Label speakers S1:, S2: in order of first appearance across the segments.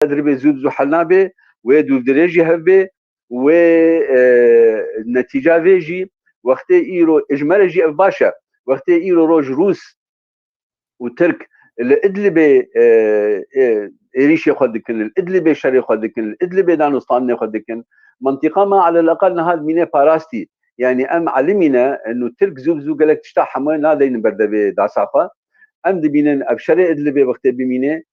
S1: Qed ribê zû bi zû hel nabe, wê dûvdirê jî hev bê û wê netîca vê jî wextê îro ji me re jî ev baş e. Wextê îro roj Rûs û Tirk li Idlibê êrîşê xwe dikin, li Idlibê şerê xwe dikin, li Idlibê danûstandinê xwe dikin. Mentiqa me aleleqal niha dimîne parastî. Yanî em elimî ne in û Tirk zû bi zû gelek tişta hemû nadeynin berdevê dasa xwe. Em dibînin ev şerê Idlibê wextê bimînê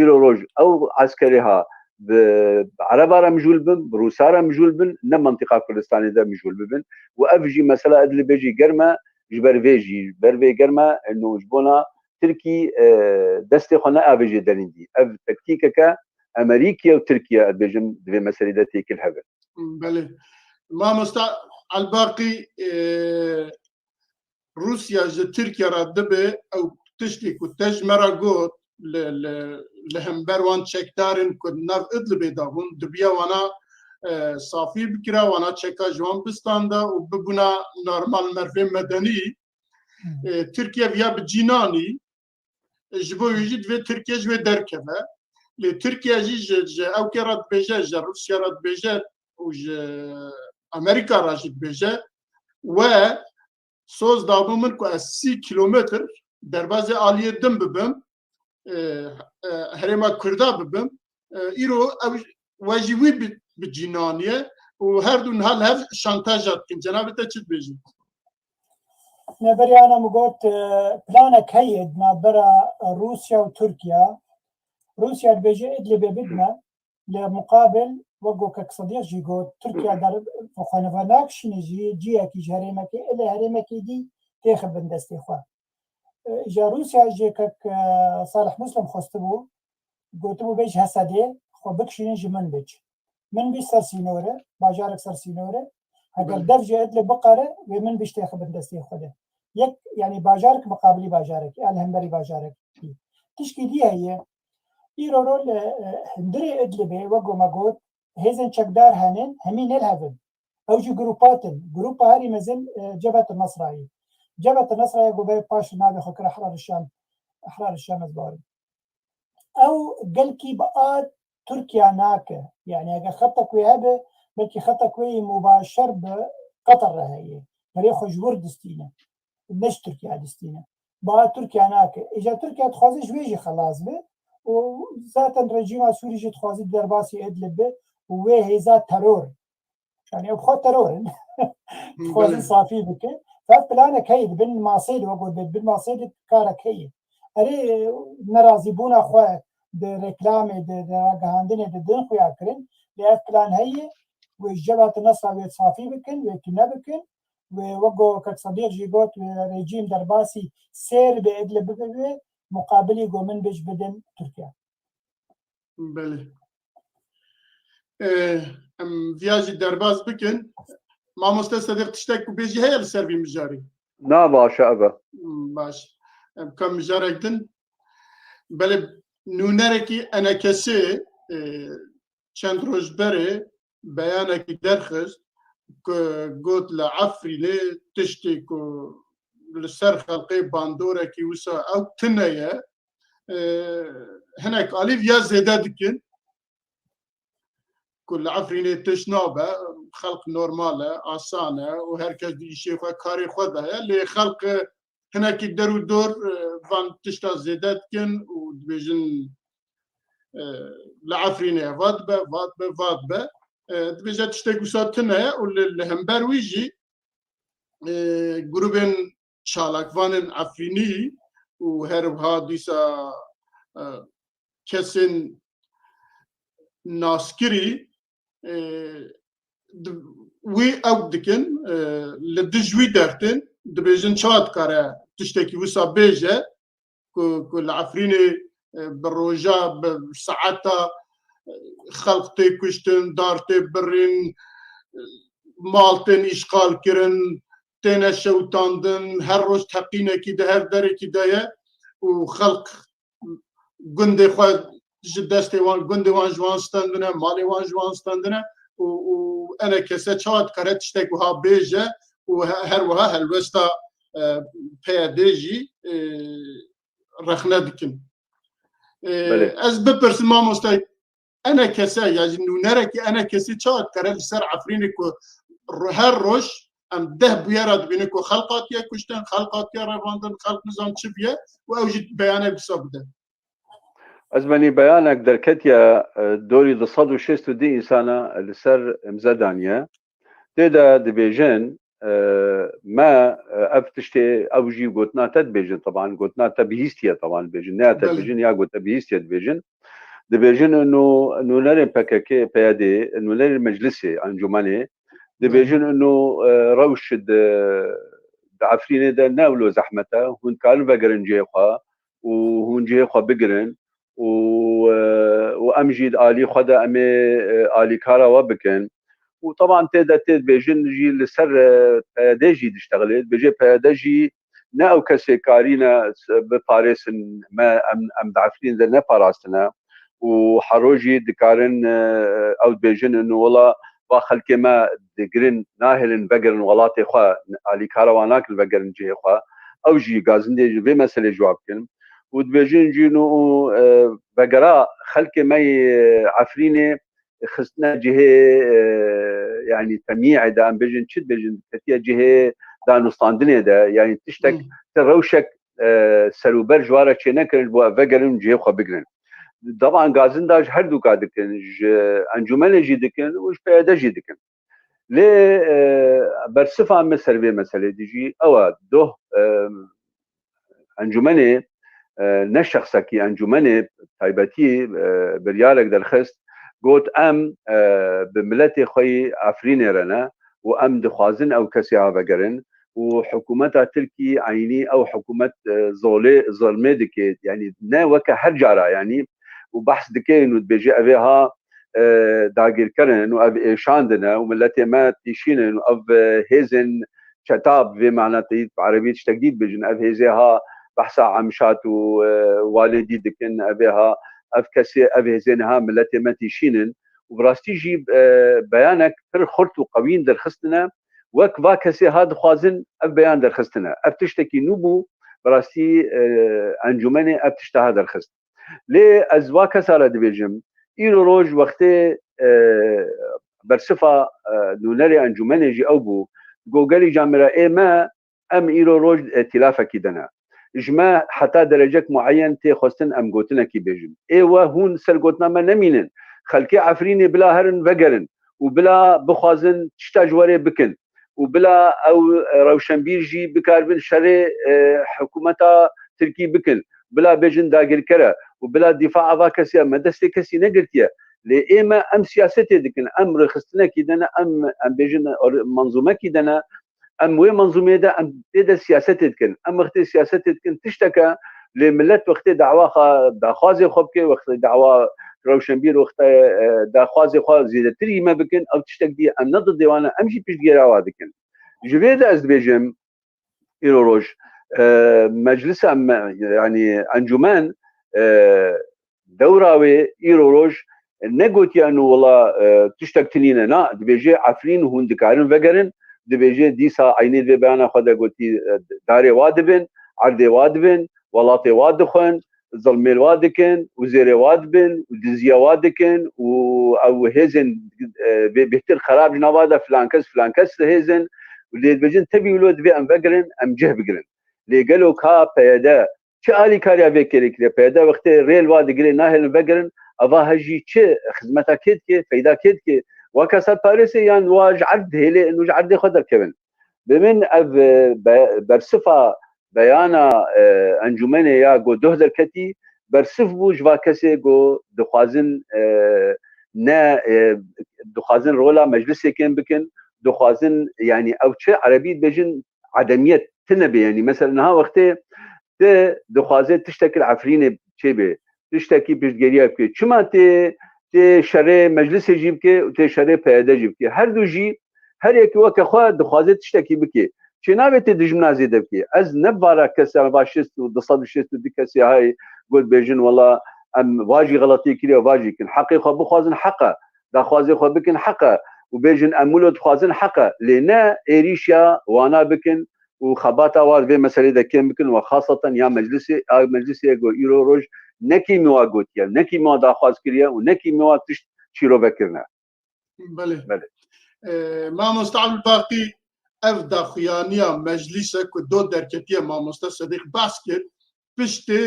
S1: îro roj ew eskerê ha bi ereba re mijûl bin, bi rûsa re mijûl bin, ne mentiqa Kurdistanê de mijûl bibin û ev jî mesela Idlibê jî germ e ji ber vê jî ji ber vê germ e no ji bona Tirkî destê xwe neavêjê derîndî. Ev tektîkeke Emerîkî ye û Tirkî ye ez bêjim di vê meselê de têkil hev in. Belê. Mamosta Elbaqî Rûsya ji Tirkiye re dibe ew tiştê ku te ji me re got li hember wan çekdarên ku nav Idlibê de bûn dibiya wana safî bikira wana çeka ji wan bistanda û bibûna normal mervên medenî Tirkiye viya bi cînanî ji bo wî jî divê Tirkiye ji wê derkeve lê Tirkiye jî ji ji ew kê re dibêje ji Rûsya re dibêje û ji Amerîka re jî dibêje we soz dabû min ku ez sî kîlometr derbazê aliyê din bibim herêma Kurda bibim îro ew we jî wî bi cînaniye û her du niha li hev şantaja dikin. Cenabê te çi dibêjin? Neberiyana min got planek heye di navbera Rûsya û Tirkiya. Rûsya dibêje Idlibê bidime li muqabil wek ku kek Sedîq jî got Tirkiya der xwe li vir nakişîne jî cihekî ji herêmekê ilê herêmekê dî têxibin destê xwe. Ja Rûsya jê kek Salih Muslim xwestibû Gotibû bê ji Hesedê xwe bikişînin ji Minbij. Minbij ser sînor e, bajarek ser sînor e. Heger dev ji Idlib biqere, wê Minbij têxi bin destê xwe de. Yek yanî bajarek miqabilî bajarekî e li hemberî bajarekî. Tişkî dî heye, îro ro li hundirê Idlibê wek ku me got hêzên çekdar hene, hemî ne li hev in. Ew jî grûpat in. Grûpa herî mezin Cebhet Nasra ye. Cebhet Nasra ya ku berê paş li navê xwe kira Hrar Şam, Ahrar Şam ez bawer im. ew gelkî bi a Tirkiya nake. Yanî eger xeta ku wê hebe, belkî xeta ku wê yê mubaşer bi Qetar re heye. Perê xwe ji wir distîne. Ne ji Tirkiya distîne. Bi a Tirkiya nake. Îja Tirkiya dixwaze ji wê jî xelas be û zaten rejîma Sûrî jî dixwaze di derbasî Idlib be û wê hêza teror Yani ew xwe teror in. Dixwazin safî bikin. Ev planek heye dibin masê de wek dibin bin masê de karek heye. Erê nerazîbûna xwe di reklamê de di ragihandinê de din xuya kirin lê ev plan heye wê ji ceva te nesla wê safî bikin wê tune bikin wê wek go kek sedîq jî got wê rejîm derbasî sêr bê edle bibe wê muqabilî go min bej bidin Tirkiye. Belê. Em viya jî derbas bikin. Mamoste Sedîq tiştek ku bêjî heye li ser vî mijarê. Na baş e ev e. Baş. Em ka mijarek din. Belê nûnerekî enekesê çend roj berê beyanekî derxist ku got li Efrînê tiştê ku li ser xelqê bandorekî wisa ew tune ye hinek alî ya zêde dikin ku li Efrînê tişt nabe xelq normal e asan e û herkes di îşê xwe karê xwe de ye lê xelq hinekî der û dor van tişta zêde dikin û dibêjin li Efrînê va dibe va dibe va dibe dibêje tiştê wisa tune ye û li hember wî jî grûbên çalakvanên Efrînî û her wiha dîsa kesên naskirî wî ew dikin li dij wî dertin dibêjin ça dikare tiştekî wisa bêje ku ku li Efrînê bi roja bi saeta xelq tê kuştin dar tê birîn mal tên îşqal kirin têne şewitandin her roj teqînekî de her derekî de ye û xelq gundê xwe ji destê wan gundê wan ji wan standine malê wan ji wan standine û û ene kese çawa dikare tiştek wiha bêje û her wiha helwesta PYD jî rexne dikin. Ez bipirsim mamoste Ene kese ya ji nûnerekî ene kesî ça kere li ser Efrînê ku her roj em deh bûyera dibînin ku xelq hatiye kuştin, xelq hatiye revandin, xelq nizam çi bûye û ew jî beyanek wisa bide. Ez menî beyanek derketiye dorî du sed û şêst û dî însana li ser imze daniye. Tê de dibêjin me ev tiştê ew jî gotina te dibêjin teban gotina te bihîstiye teban dibêjin ne te dibêjin ya got te bihîstiye dibêjin dibêjin nû nûnerên PKK PYD nûnerên meclisê encûmenê dibêjin nû rewş di Efrînê de ne ewlo zehmete hûn karin vegerin cihê xwe û hûn cihê xwe bigirin û û em jî di alî xwe de em ê alîkara we bikin. Û teban tê de tê dibê jin jî li ser PYD'ê jî diştexilê, dibêje PYD jî ne ew kesê karîne biparêsin me em em di Efrînê de neparastine û hero jî dikarin ew dibêjin û wila va xelkê me digirin nahêlin vegerin welatê xwe, alîkara wan nakin vegerin cihê xwe. Ew jî gazindê ji vê meselê civak bikin û dibêjin cî nû û vegera xelkê me yê Efrînê xistine cihê yanî temyî'ê de em bêjin çi dibêjin ketiye cihê danûstandinê de yanî tiştek ti rewşek seruber ji wara çênekirin ji bo ev vegerin û cihê xwe bigirin. Daban gazinda ji her dûka dikin, ji encumenê jî dikin û ji PYD jî dikin. Lê bersifa me ser vê meselê dijî ew e doh encumenê ne şexsekî encumenê taybetî biryarek derxist got em bi miletê xwe yî Efrînê re ne û em dixwazin ew kesê ha vegerin ku hikûmeta Tirkî eynî ew hikûmet zolê zilmê dike yanî ne weke her cara yanî û behs dike û dibêje evê ha dagîrkerin û ev êşandin e û miletê me tîşînin û ev hêzên çeta bi vê mana teyî bi erebî tiştek dî dibêjin ev hêzê ha behsa Emşat û Walê dî dikin evê ha ev kesê ev hêzê niha miletê me tîşînin û bi rastî jî beyanek pir xurt û qewîn derxistine Wek va kesê ha dixwazin ev beyan derxistine. Ev tiştekî nû bû, bi rastî encûmenê ev tişta ha derxist. Lê ez va kesa re dibêjim, îro roj wextê bersifa nûnerê encûmenê jî ew bû, got gelî ca mira ê me Em îro roj îtîlafekî de ne. Ji me heta derecek mueyen tê xwestin em gotinekî bêjin. Ê we hûn ser gotina me nemînin. Xelkê Efrînê bila herin vegerin û bila bixwazin tişta ji werê bikin û bila ew rewşenbîr jî bikaribin şerê hikûmeta tirkî bikin, bila bêjin dagirker e û bila dîfa ava kesî e. Me destê kesî negirtiye. Lê ê me em siyasetê dikin. Em rêxistinekî de ne, em em bêjin manzûmekî de ne, Em wê menzûmeyê de em tê de siyasetê dikin. Em wextê siyasetê dikin tiştek e lê milet wextê dawa xwe daxwazê xwe bike wextê dawa rewşenbîr wextê daxwazê xwe zêdetir yî me bikin ew tiştek dî em ne di dêwan e em jî piştgêra wan dikin. Ji vê de ez dibêjim îro roj meclisa me yanî encûmen Dewra wê îro roj ne gotiya nû wila tiştek tinî ne na, dibêje Efrîn hûn dikarin vegerin, dibêje dîsa eynî vê beyana xwe de gotî darê wa dibin, erdê wa dibin, welatê wa dixwin, zilmê wa dikin û zêrê wa dibin û diziya wa dikin û ew hêzên vê bêhtir xerab ji nava de filan kes filan kes li hêz in û lê dibêjin tevî wilo divê em vegirin, em cih bigirin. Lê gelo ka PYD Çi alîkariya vê kêrê kiriye? Peyda wextê rêl va digirê nahêlin vegirin ava hej jî çi xizmeta kê dike, feyda kê dike? Wa kesat Parîsê yan wa ji erd dihêle in û ji erdê xwe derkevin? Bi min ev bersifa beyana encûmenê ya ku doh derketî bersif bû ji va kesê ku dixwazin ne dixwazin rola meclisê kêm bikin, dixwazin yanî ew çi erebî dibêjin edemiyet tine bê yanî mesela niha wextê ti dixwaze tiştekir efrînê çêbê tiştekî piştgeriya bikê çima tê tê şerê meclisê jî bikê û tê şerê PYD jî bikê her du jî her yekî weke xwe dixwaze tiştekî bikê çê nabê tê dijmina zêde bikê ez ne vara kesa va şêst û du sed û şêst û du kesê hay got bêjin wela em vajî xeletiyê kiriye vajî kin heqê xwe bixwazin heqa daxwazê xwe bikin heq e û bêjin em wilo dixwazin heq e lê ne êrîşa wana bikin û xebata wan vê meseleyê de kêm bikin û xasatan ya meclisê a meclisê ye ku îro roj ne kîmî wa gotiye ne kîmî wa daxwaz kiriye û ne kîmî wa tişt çîrove kirine. Belê. Belê. Mamosta Ebûlbaqî ev daxuyaniya meclîs e ku dot derketiye mamosta Sedîq behs kir piştê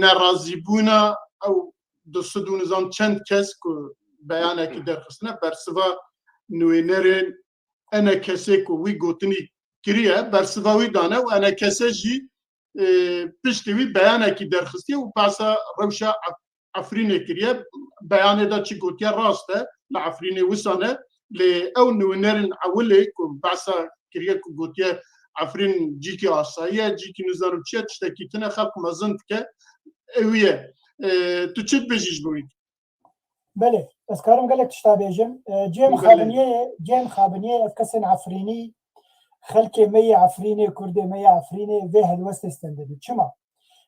S1: nerazîbûna ew du sid û nizam çend kes ku beyanekî derxistine bersiva nûênerên ene kesê ku wî gotinî kiriye bersiva wî dane û ene kese jî piştê wî beyanekî derxistiye û pasa rewşa Efrînê kiriye. Beyanê de çi gotiye rast e, li Efrînê wisa ne. Lê ew nûnerên ewilê ku behsa kiriye ku gotiye Efrîn cîkê asayî ye, cîkî nizanim çi ye, tiştekî tune xelq mezin dike. Ewî ye. Tu çi dibêjî ji bo wî? Belê, ez karim gelek tişta bêjim. Cem Xabiniyeyê, Cem Xabiniyeyê ev kesên Efrînî Xelkê me yê Efrînê, Kurdê me yê Efrînê vê helwestê stendibî. Çima?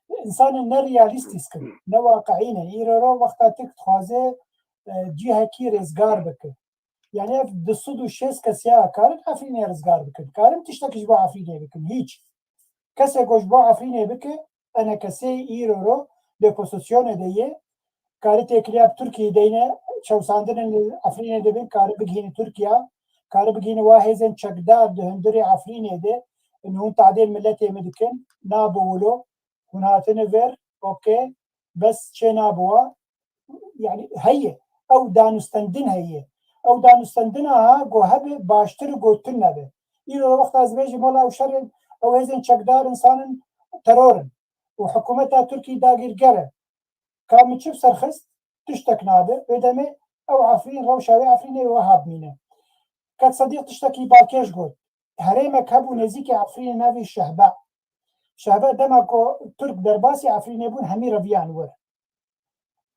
S1: Însanê ne realîstî skin, ne waqiî ne. Îro ro wexta tik dixwaze cîhekî rêzgar bike. Yani ev du sed û şêst kes ya karin Efrînê rizgar bikin. Karin tiştekî ji bo Efrînê bikin? Hîç. Kesê ku ji bo Efrînê bike enekesê îro ro di opozîsyonê de yê. Kari têkiliya bi Tirkiyeyê deyne çewsandinên li Efrînê dibin kari bigihînin Tirkiya, kari bigihînin wa hêzên çekdar di hundirê Efrînê de in hûn tehdê miletê me dikin, nabi wilo, hûn hatine vir, ok, bes çê nabi wa, yani heye ew danûstendin heye ew danûstendina ha go hebe baştir û go tune be îro wexta ez vêjî mala ew şerin ew hêzên çekdar insanin terorin û hikumeta Tirkî dagîrger e ka min çi serxist tiştek nabe wê demê ew Efrîn rewşa wê Efrînê wiha bimîne Kek Sedîq tiştekî balkêş got herêmek hebû nêzîkê Efrînê navê Şehba Şehba dema ku Tirk derbasî Efrînê bûn hemî reviyan wir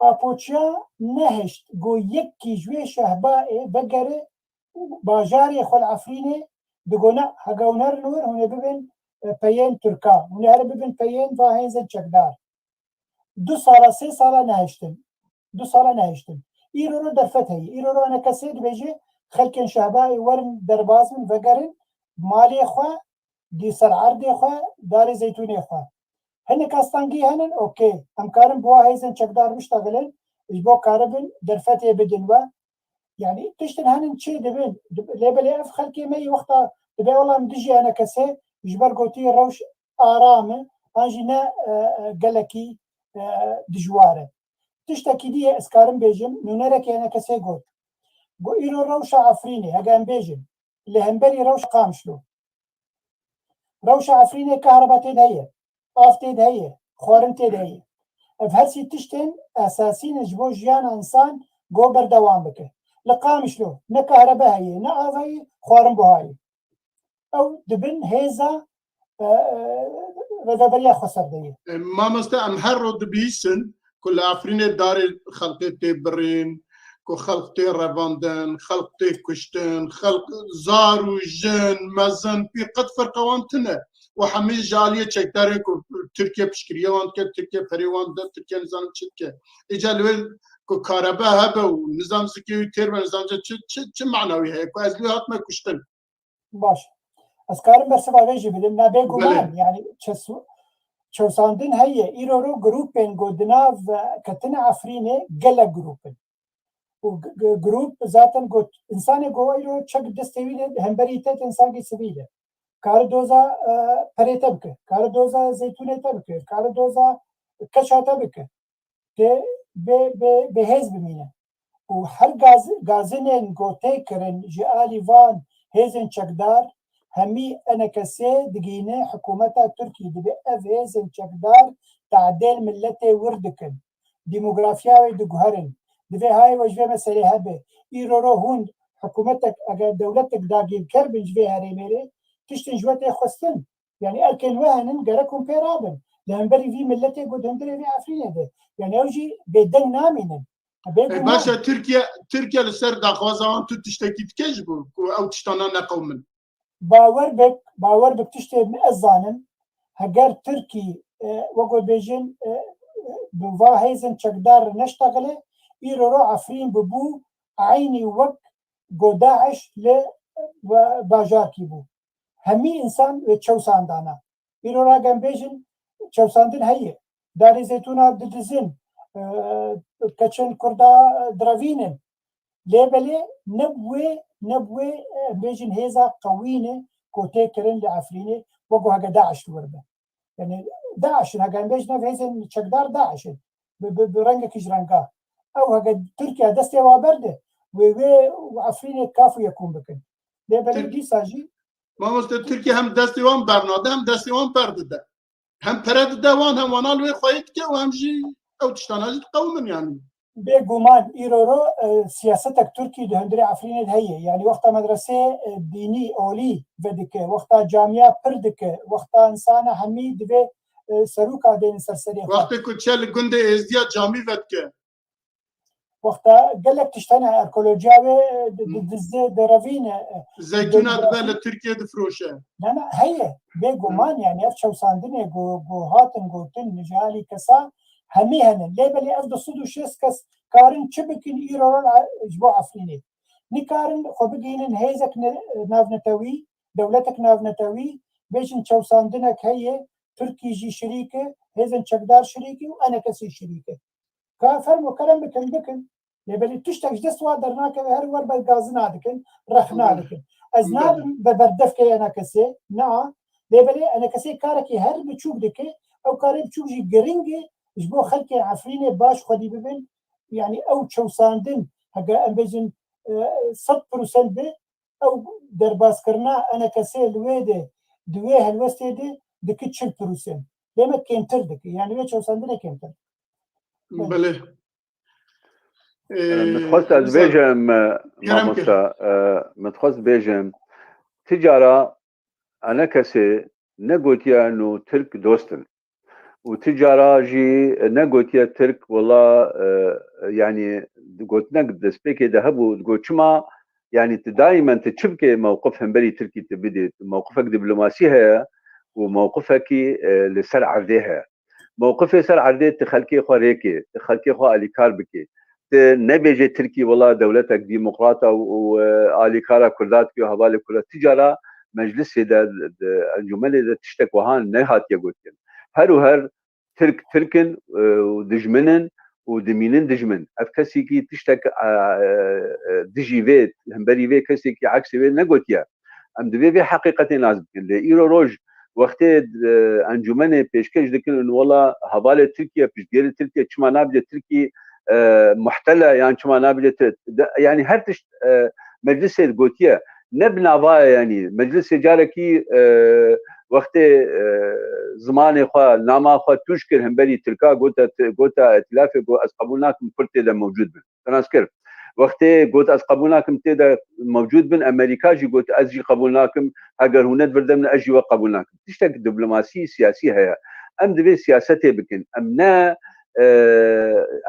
S1: Apoçya nehişt ku yekî ji wê şehbaê vegere û bajarê xwe li Efrînê digona hega hûn herin wir hûn ê bibin peyên Tirkan, hûn ê herin bibin peyên va hêzên çekdar. Du sala sê sala nehiştin. Du sala nehiştin. Îro ro derfet heye. Îro ro hene kesê dibêje xelkên şehbaê werin derbas bin vegerin malê xwe, dî ser erdê xwe, darê zeytûnê xwe. Hinek astengî henin ok em karin bi wa hêzên çekdar biştexilin ji bo karibin derfetê bidin we. Yanî tiştin henin çê dibin lê belê ev xelkê me yî wexta dibe wela em dijî hene kesê ji ber gotî rewş aram e an jî ne gelekî dijwar e. Tiştekî dî yê ez karin bêjim nûnerekî hene kesê got, Got îro rewşa Efrînê heke em bêjin li hemberî rewşa Qamişlo. Rewşa Efrînê kehreba tê de heye, av tê de heye, xwarin tê de heye. Ev hersî tiştên esasî ne ji bo jiyana însan go berdewam bike. Li Qamişlo ne kehrebe heye, ne av heye, xwarin buha ye. Ew di bin hêza rêveberiya xwe ser de ye. Mamoste em her roj dibihîstin ku li Efrînê darê xelkê tê birîn, ku xelk tê revandin, xelk tê kuştin, xelk zar û jin, mezin, pîr qet ferqa wan tune û hemî ji aliyê çekdarên ku Tirkiye piştgiriyê wan dike, Tirkiye ferê wan dide, Tirkiye nizanim çi dike. Îcar li wê ku karebe hebe û nizam zikê wî têr be nizamca çi mana wî heye ku ez li wê hatime kuştin. Baş. Ez karim bersiva vê jî bidim. Na bêguman yani çesu çewsandin heye îro ro grûpên ku di nav ketine Efrînê gelek grûp in. û grûp zaten ku însanê ku îro çek destê wî de hemberî te tên sangî sivîl e. Kari doza perê te bike, kari doza zeytûnê te bike, kari doza keça te bike. dê bi hêz bimîne û her gazinên ku tê kirin ji alî van hêzên çekdar hemî enekesê digihîne hikûmeta Tirkî dibê ev hêzên çekdar te'dêl miletê wir dikin, dîmografiya wê diguherin. Di vê hayê we ji vê meselê hebe îroro hûn hikûmetek eger dewletek dagîrker bin ji vê herêmê rê tiştên ji we tê xwestin Yani ew kêl we henin gerek hûn pê rabin. Li hemberî vî miletê ku dindirê vê Efrînê de. Yani ew jî bêdeng namînin. E başa Tirkiye Tirkiye li ser daxwaza wan tu tiştekî dike ji bo ku ew tiştana neqewmin. Bawer bik, bawer bik tiştê ez zanim heger Tirkî wek we bêjin bi va hêzên çekdar re neştexile îro re Efrîn bibû eynî wek ku DAIŞ li bajarkî bû. hemî însan wê çewsandana. Îro ra gem bêjin çewsandin heye. Darê zeytûna didizin, keçin kurda direvînin. Lê belê ne bi wê ne bi wê em bêjin hêza qewî ne ku tê kirin li Efrînê wek ku heke DAIŞ li wir be. yani DAIŞ'in hege em bêjin ev hêzên çekdar DAIŞ'in bi bi rengekî ji renga ew hege Tirkiye destê wa berde wê wê û Efrînê kaf û yekûm bikin. Lê belê Tir- dîsa jî Mamoste Tirkiye hem destê wan bernade hem destê wan per dide. Hem pere dide wan hem wana li wê xweyê dike û hem jî ew tiştana jî diqewimin yani. Bê guman îro ro siyasetek Tirkî di hundirê Efrînê de heye. Yanî wexta medresê dînî, olî, vedike, wexta camîya pir dike, wexta insana hemî divê serûka dêne ser serê xwe. Wextê ku çe li gundê Êzdîya camî vedike. Wexta gelek tişt hene arkeolojîya wê didizê, direvîne. Zeytûna dibe li Tirkîyê difiroşe. Na na heye. Bê guman yanî ev çewsandinê ku hatin gotin ji alî kesan hemî hene lê belê ev du sed û şêst kes karin çi bikin îro re ji bo Efrînê nikarin xwe bigihînin hêzek navnetewî, dewletek navnetewî bêjin çewsandinek heye Tirkî jî şirîk e, hêzên çekdar şirîk in û enekesî şirîk in. Ka fermo kerem bikin bikin. Lê belê tiştek ji dest wa dernakeve her wer ber gazina dikin, rexna dikin. Ez nabim be berdef ke ena kesê, naa, lê belê ena kesê karekî her biçûk dike, ew karê biçûk jî giring e ji bo xelkê Efrînê baş xwedî bibin, yanî ew çewsandin heke em bêjin sed pirsent be, ew derbaskirina ena kesê li wê de di wê helwestê de dike çil pirsent. Lê me kêmtir dike, yanî wê çewsandinê kêmtir dike. Belê, Mitxwest ez bêjim mamosta mitxwest bêjim ti cara ene kesê ne gotiye no Tirk dostin û ti cara jî ne gotiye Tirk wela yanî gotinek destpêkê de hebû digo çima yanî ti daimen ti çi bikê mewqif hemberî Tirkî ti bidê mewqifek dîplomasî heye û mewqifekî li ser erdê heye. Mewqifê ser erdê ti xelkê xwe rêkê, ti xelkê xwe alîkar bikê. Ti nebêjê Tirkî wila dewletek dîmoqrata û alîkara Kurda dike û hevalê Kurda. Ti cara meclisê de, di encumenê de tiştek wiha nehatiye gotin. Her û her Tirk Tirk in û dijmin in û dimînin dijmin. Ev kesîkî tiştek dijî vê, himberî vê kesîkî eksê wê negotiye. Em divê vê heqîqetê nas bikin. Lê îro roj wextê encûmenê pêşkêş dikin û wela hevalê Tirkiye, piştgirê Tirkiye çima nabêje Tirkî muhtele yan çima nabêje yanî her tişt meclisê gotiye ne bi navaya yanî meclisê carekî wextê zimanê xwe nama xwe tûj kir hemberî Tirka gota gota îtilafê got ez qebûl nakim Kurd tê de mewcûd bin. Firanc kir. Wextê got ez qebûl nakim tê de mewcûd bin, Emerîka jî got ez jî qebûl nakim, heger hûn netvirde min ez jî we qebûl nakim. Tiştek diplomasî, siyasî heye. Em divê siyasetê bikin. Em ne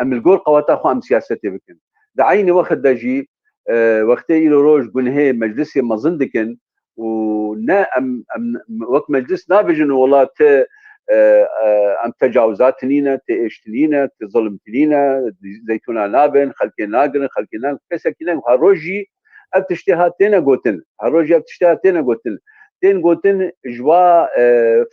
S1: em li gor qeweta xwe em siyasetê bikin. Di eynî wexit de jî wextê îro roj gunhê meclisê mezin dikin û ne em em wek meclis nabêjin wela ti em tecawizat tinîne, ti êş tinîne, ti zilim tinîne, zeytûna nabin, xelkê nagirin, xelkê ne kesekî ne her roj jî ev tiştê hat têne gotin. Her roj ev tiştê hat têne gotin. Tên gotin ji va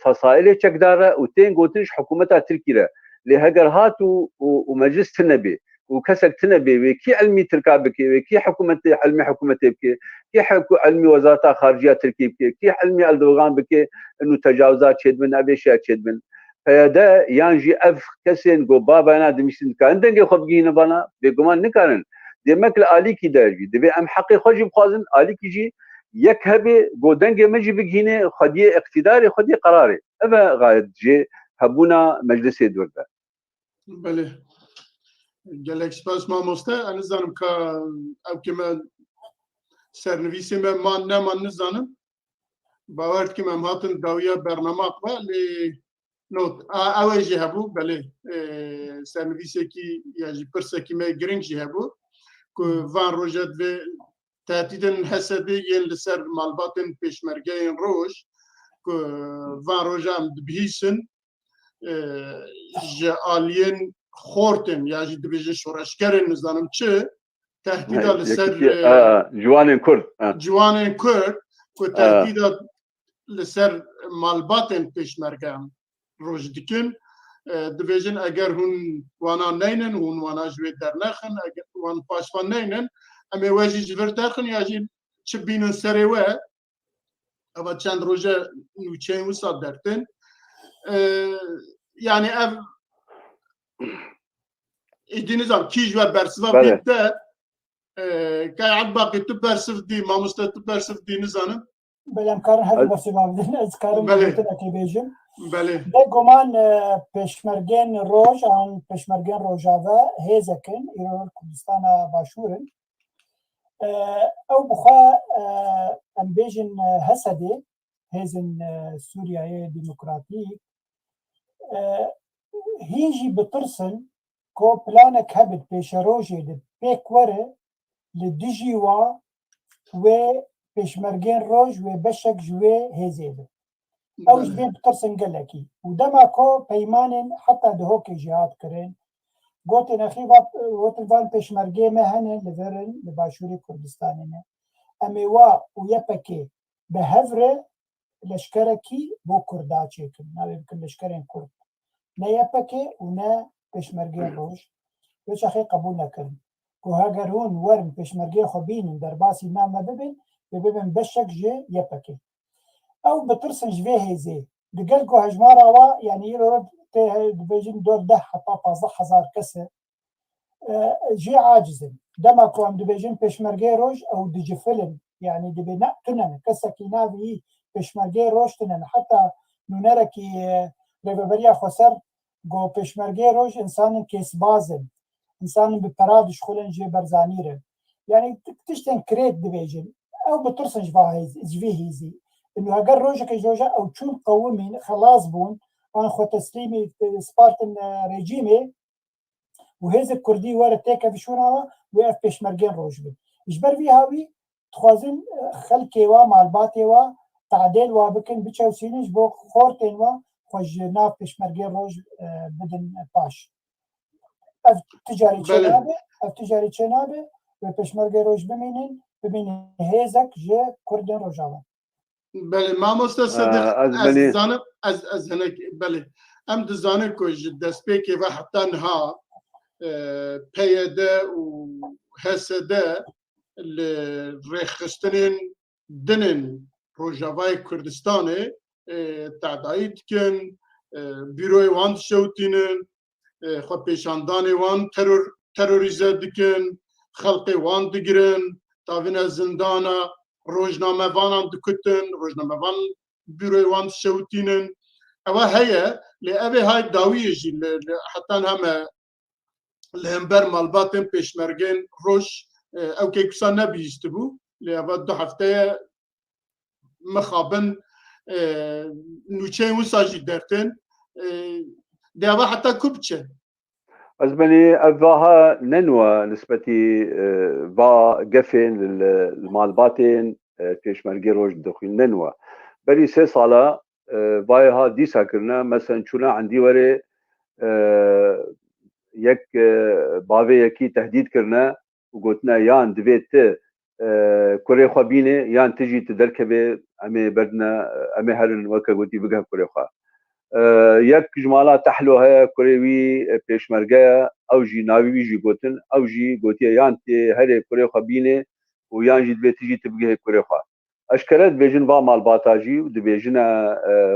S1: fesailê çekdar re û tên gotin ji hikûmeta Tirkî re. Lê heger hat û û meclis tune bê û kesek tune bê wê, kî elmî tirka bikê wê, kî hikûmetê elmî hikûmetê bikê, kî hikû elmî wezareta xariciya tirkî bikê, kî elmî Eldogan bikê nû tecawizat çêdibin, ev ê şer çêdibin. PYD yan jî ev kesên ku babayana dimîştin dikarin dengê xwe bigihînin vana? Bêguman nikarin. Dê mek li alîkî de jî divê em heqê xwe jî bixwazin, alîkî jî yek hebê ku dengê min jî bigihînê xwediyê îktîdarê, xwediyê qerarê. Ev e gayet jê hebûna meclisê dûr de. Belê. Gelek spas mamoste. Ez nizanim ka ev ke me sernivîsê me man neman nizanim. Bawer dikim em hatin dawiya bernama xwe lê not ew jî hebû belê sernivîsekî ya jî pirsekî me giring jî hebû ku van roja divê tehdîdên hesedê yên li ser malbatên pêşmergeyên roj ku van roja em dibihîsin ji aliyên xortên ya jî dibêjin şoreşgerên nizanim çi tehdîda li ser ciwanên kurd ciwanên kurd ku tehdîda li ser malbatên pêşmergeyan roj dikin dibêjin eger hûn wana neynin hûn wana ji wê dernexin wan paşvan neynin em ê we jî ji vir derxin ya jî çi bînin serê we Eva çend roje nûçeyên wisa dertin. Yani ev êdî nizam kî ji we bersiva Bele. bîr te kay Ebbaqî tu bersiv dî mamoste tu bersiv dî nizanin. Belem karin her Ez- besi babdin ez karin Belê. bêtin ekê bêjim. Belê. Be goman e, peşmergên roj an peşmergên rojave hêzekin îro Kurdistana başûrin. ew bixwe em bêjin Hesedê hêzên Sûriyeyê Demokratîk hî jî bitirsin ku planek hebe di pêşerojê de pêk were li dijî wan wê pêşmergên roj wê beşek ji wê hêzê be. Ew ji vê ditirsin gelekî û dema ku peymanên heta Dihokê jî hat kirin, gotin nexî gotin van pêşmergeyê me hene li vir in, li başûrê Kurdistanê ne. Em ê wa û YPG bi hev re leşkerekî bo Kurda çêkin, navê bikin leşkerên Kurd. Ne YPG û ne pêşmergeyên roj vê çaxê qebûl nekirin. Goha eger hûn werin pêşmergeyê xwe bînin derbasî nav me bibin, dê bibin beşek ji YPGê. Ew bitirsin ji vê hêzê. Digel ku hejmara wa yanî îro tê dibêjin dor deh heta pazdeh hezar kes e jî aciz in. Dema ku em dibêjin pêşmergeyê roj ew dicifilin yanî dibê ne tune ne. Kesekî navê yî pêşmergeyê roj tune ne. Heta nûnerekî Rêveberiya Xweser Got, Pêşmergeyê roj însanên kêsbaz in, însanên bi pera dişxulin jê Berzanî re. Yanî tiştên kirêt dibêjin. Ew bitirsin ji va ji vî hêzî. Î heger rojekê ji roja ew çûn qewimîn, xelas bûn an xwe teslîmî spartin rejîmê û hêzek kurdî were têke vişûna we, wê ev pêşmergeyên roj bin. Ji ber vî hawî Dixwazin xelkê we, malbatê we tadêl we bikin, biçewsînin ji bo xortên we xwe ji nav Pêşmergê roj bidin paş. Ev ti carî çê nabe, ev ti carî çê nabe wê Pêşmergê roj bimînin, bimîne hêzek ji Kurdên Rojava. Belê mamoste Sedik ez dizanim ez ez hinek belê em dizanin ku ji destpêkê ve heta niha PYD û HSD li rêxistinên dinên Rojavayê Kurdistanê tedayî dikin, bîroyê wan dişewitînin, xwe pêşandanê wan teror terorîze dikin, xelqê wan digirin, davine zindana, rojnamevanan dikutin, rojnamevan bîroyê wan dişewitînin. Ewa heye lê evê hay dawiyê jî li hetan heme li hember malbatên pêşmergên roj ew kêkusa nebihîstibû lê eva du hefteye mixabin nûçeyên wisa jî dertin deva heta ku biçe Ez benî ev vaha nenwa nisbetî va gefên li malbatên pêşmergê roj dixwîn nenwa berî sê sala vayê ha dîsa kirine mesen çûna endî werê yek bavê yekî tehdîd kirine û gotine yan divê tu kurê xwe bînê yan tu jî tu derkevê em ê berdine em ê herin weke gotî bigeh kurê xwe. Yek ji mala Tehlo heye kurê wî pêşmerge ye ew jî navê wî jî gotin ew jî gotiye yan tu yê herê kurê xwe bînê û yan jî divê tu jî tu bigihê kurê xwe. Eşkere dibêjin va malbata jî û dibêjine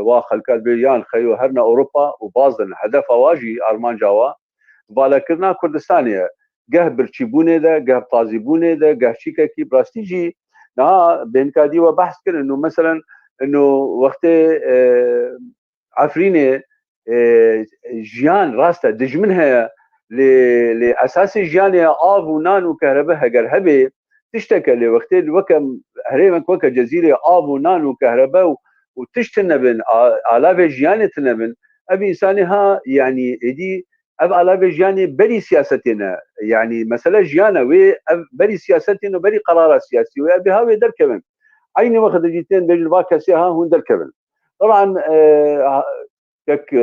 S1: wa xelka dibê yan xeyo herna Ewropa û baz din. Hedefa wa jî, armanca wa, valekirina Kurdistanê ye. Geh birçîbûnê de, geh tazîbûnê de, geh çîkekî. Bi rastî jî niha bên kadî we behs kirin û meselen ino wextê Efrînê jiyan rast e dijmin heye lê lê esasê jiyanê ye av û nan û kehrebe heger hebê tiştek e lê wextê li weke herêmek weke cezîrê av û nan û kehrebe û û tişt tine bin alavê jiyanê tine bin ev însanê ha yanî êdî ev alavê jiyanê berî siyasetê ne yanî mesele jiyan e wê ev berî siyasetê ne berî qerara siyasî wê ev bêha wê derkevin eynî wextê jî tên bêjin va kesê ha hûn derkevin. طبعا tek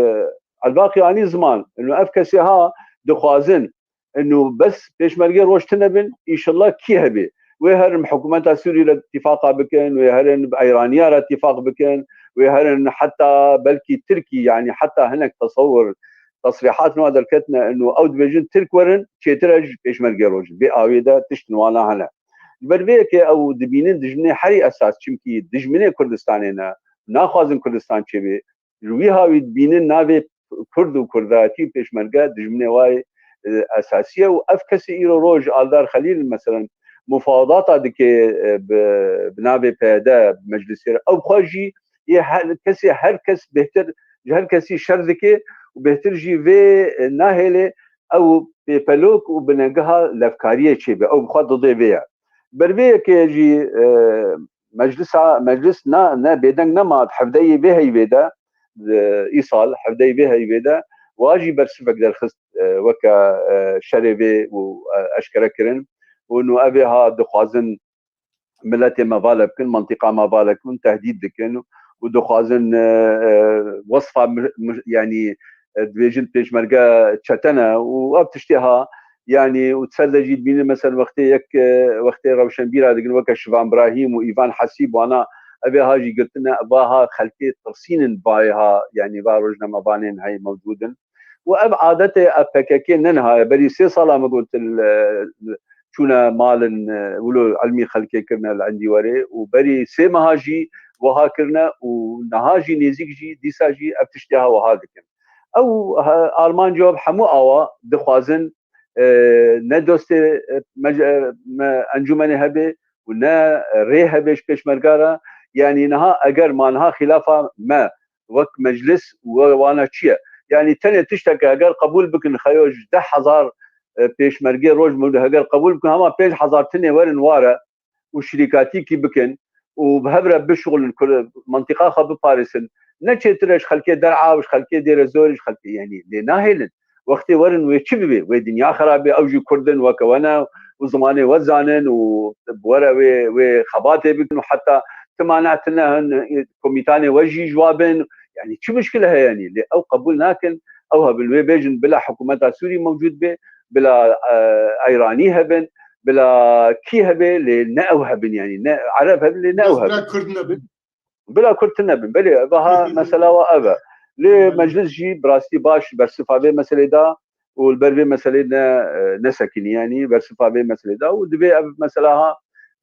S1: Elbaqî anî ziman inu ev kesê ha dixwazin inu bes pêşmergê roj tune bin îşilla kî hebê wê herin bi hikûmeta Sûrî re îtîfaqa bikin wê herin bi Eyraniya re îtîfaq bikin wê herin heta belkî Tirkî yanî heta hinek tesewur tesrîhat wan derketine inu ew dibêjin Tirk werin çêtir e ji pêşmergê rojin bê awê de tişt li wana hene. Ji ber vê yekê ew dibînin dijminê herî esas çimkî dijminê Kurdistanê ne, naxwazin Kurdistan çêbê. Ji wîha wî dibînin navê Kurd û Kurdayetî û pêşmerge dijminê wê esasî ye û ev kesî îro roj Aldar Xelîl meselen mufawedata dike bi navê PYD bi meclisê re ew xwe jî yê kesê her kes bêhtir ji her kesî şer dike û bêhtir jî vê nahêle ew pêpelok û binengeha levkariyê çêbe ew bi xwe dide vê ye. Ber vê yekê jî meclisa meclis na ne bêdeng nema di hevdeyê vê heyvê de îsal hevdeyê vê heyvê de wa jî bersivek derxist weke şerê vê û eşkere kirin û nû ev ê ha dixwazin miletê me vale bikin, mantiqa me vale bikin, tehdîd dikin û dixwazin wasfa yanî dibêjin pêşmerge çetene û ev tiştê ha yani û ser de jî dibînin mesel wextê yek wextê rewşenbîra digin weke Şivan Brahîm û Îvan Hesîb wana evê ha jî girtine va ha xelkê tirsînin bayê ha yani va rojnamevanên heyî mewcûdin û ev adetê a pkk ne niha ye berî sê sala min got çûne malin wilo ilmî xelkê kirine li endî werê û berî sê meha jî wiha kirine û niha jî nêzîk jî dîsa jî ev tiştê ha wiha dikin. Ew Arman Cob hemû awa dixwazin ne dostê me encûmenê hebe û ne rê hebe ji pêşmerga re yanî niha eger ma niha xilafa me wek meclis û were wana çi ye? Yanî tenê tişteke heger qebûl bikin xeyo ji deh hezar pêşmergê roj bi roj heger qebûl bikin hema pênc hezar tinê werin ware û şirîkatîkî bikin û bi hev re bişuxulin ku mentiqa xwe biparêsin. Ne çêtir e ji xelkê Der'a û ji xelkê Dêrezorê ji xelkê yanî lê nahêlin. wextê werin wê çi bibê wê dinya xerabê ew jî kurd in weke we ne û zimanê we zanin û bi were wê wê xebatê bikin û heta ti mane ti ne hin komîtanê we jî ji wa bin yanî çi muşkile heye yanî lê ew qebûl nakin ew hebin wê bêjin bila hikûmeta Sûrî mewcûd bê bila Eyranî hebin bila kî hebê lê ne ew hebin yanî ne Ereb hebin lê ne ew hebin kurd nebin Bila Kurd tune bin. Belê ev ha mesela wa ev e. Lê meclis jî bi rastî baş bersifa vê meselê da û li ber vê meselê ne nesekiniye yanî bersifa vê meselê da û divê ev mesela ha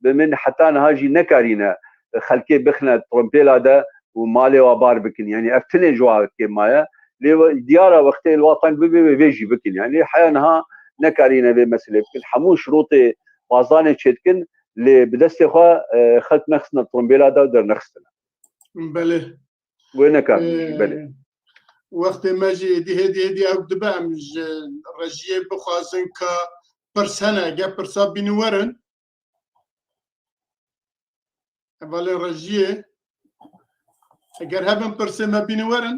S1: bi min heta niha jî nekarîne xelkê bixine trompêla de û malê wa bar bikin yanî ev tune ji wa kêm maye lê diyar e wextê li wa teng bibe wê vê jî bikin yanî heya niha nekarîne vê meselê bikin hemû şirotê bazdane çêdikin lê bi destê xwe xelk nexistina trombêla da dernexistina. Belê. Wê nekar belê. Wextê me jî êdî hêdî hêdî ew dibe em ji rejiyê bixwazin ka pirs hene ge pirsa bîni werin. Evalê rejiyê eger hebin pirsê me bîni werin.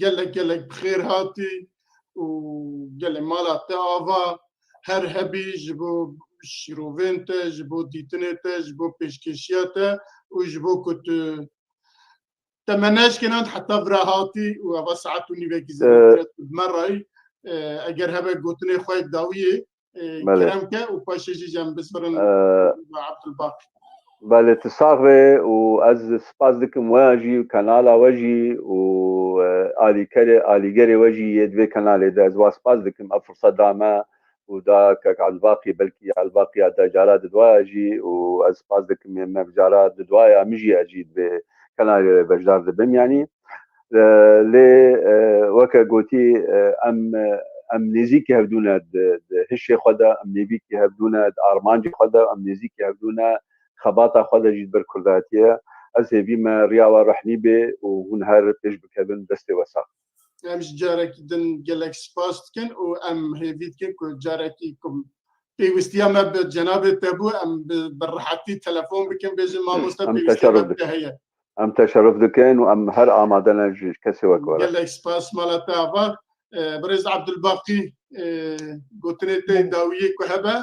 S1: gelek gelek bi xêr hatî û gelê mala te ava her hebî ji bo şîrovên te, ji bo dîtinê te, ji bo pêşkêşiya te û ji bo ku tu temeneşkên an heta vira hatî û ava saet û nîvekî zêdetir bi me rayî eger hebe gotinê xwe dawiyê kerem ke û paşê jî cem bisbirin Abdulbak. Belê tu sax be û ez spas dikim we jî kanala we jî û alîkerê alîgerê we jî yê divê kanalê de ez wa spas dikim ev firsat da me û da kek Elbaqî belkî Elbaqiya te cara di duaya jî û ez spas dikim me cara di duaya min jî ez jî divê kanalê beşdar dibim yanî lê weke gotî em em nêzîkî hevdû ne di hişê xwe de em nêbîkî hevdû ne di armancê xwe de em nêzîkî hevdû ne xebata xwe de jî li ber kurdatiyê ez hêvî me riya we rehnî bê û hûn her pêş bikevin destê we sax be. Em ji carekî din gelek spas dikin û em hêvî dikin ku carekî ku pêwistiya me bi cenabê te bû em bi rehetî telefon bikin bêjin mamoste pêwistîya me bi te heye. Em teşeruf dikin û em her amade ne ji kesê wek were. Gelek spas mala te ava. Birêz Abdulbaqî gotinê te dawiyê ku hebe.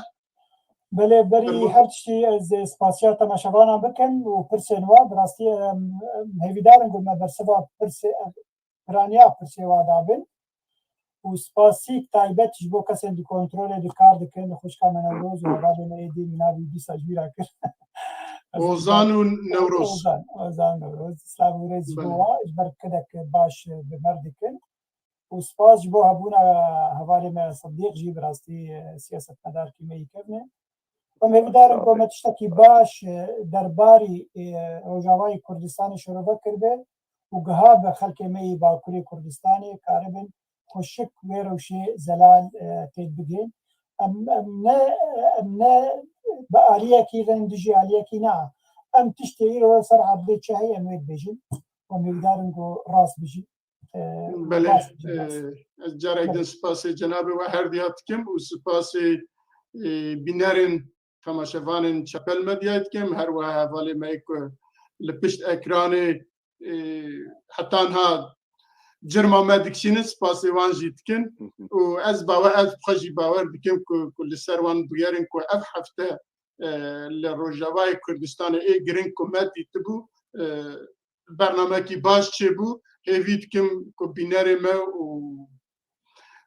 S1: Belê berî her tiştî ez spasiya temaşevanan bikim û pirsên wan bi rastî em hêvîdar in ku me bersiva pirsê piraniya pirsê wa dabin û spasîk taybet ji bo kesên di kontrolê di kar dikin, di xwişka me Newroz û hevalê me Êdî min navê wî dîsa ji wî re kir. Ozan û Newroz. Ozan, Ozan Newroz. Silav û rêz ji bo wa ji ber kedek baş bi mer dikin û spas ji bo hebûna hevalê me Sidîq jî bi rastî siyasetmedarkî me yî kevne. Em hêvî darin ku me tiştekî baş derbarî Rojavayê Kurdistanê şerove kiribe û giha bi xelkê me yê Bakurê Kurdistanê karibin xwe şik wê rewşê zelal têk bigrin. Em em ne em ne bi aliyekî re dijî aliyekî ne a. Em tiştê îro ser erdê çi heye em wê dibêjin û em hêvîdarin ku rast bijî. Belê ez carek din spasê cenabê we her dihat dikim û spasê bînerên temaşevanên Çepel Medyayê dikim, her wiha hevalê me ye ku li pişt ekranê heta niha cirma me dikişînin spasê wan jî dikin û ez bawer ez xwe jî bawer dikim ku ku li ser wan bûyerin ku ev hefte li Rojavayê Kurdistanê ê giring ku me dîtibû bernamekî baş çêbû hêvî dikim ku bînerê me û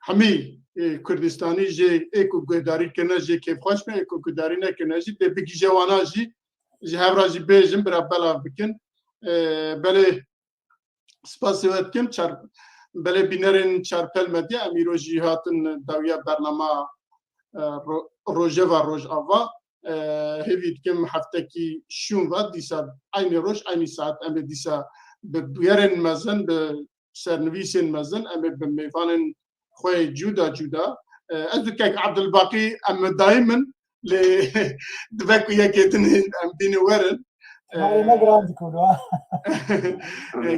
S1: hemî Kurdistanî jê ê ku guhdarî kirine jê kêfxweş be ê ku guhdarî nekirine jî dê bigîje wana jî ji hev re jî bêjin bira belav bikin belê spasê we dikim çar belê bînerên çarpel medya emîro jî hatin dawiya bernama rojeva rojava hêvî dikim heftekî şûn ve dîsa aynî roj aynî saet em ê dîsa bi bûyerên mezin bi sernivîsên mezin em ê bi mêvanên xwe cûda cûda ez bi kek Abdulbaqî em dayî min lê dibe ku yekê din em bîne werin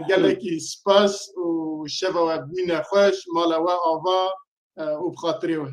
S1: gelekî spas û şeva we bûne xweş mala we ava û bi xatirê we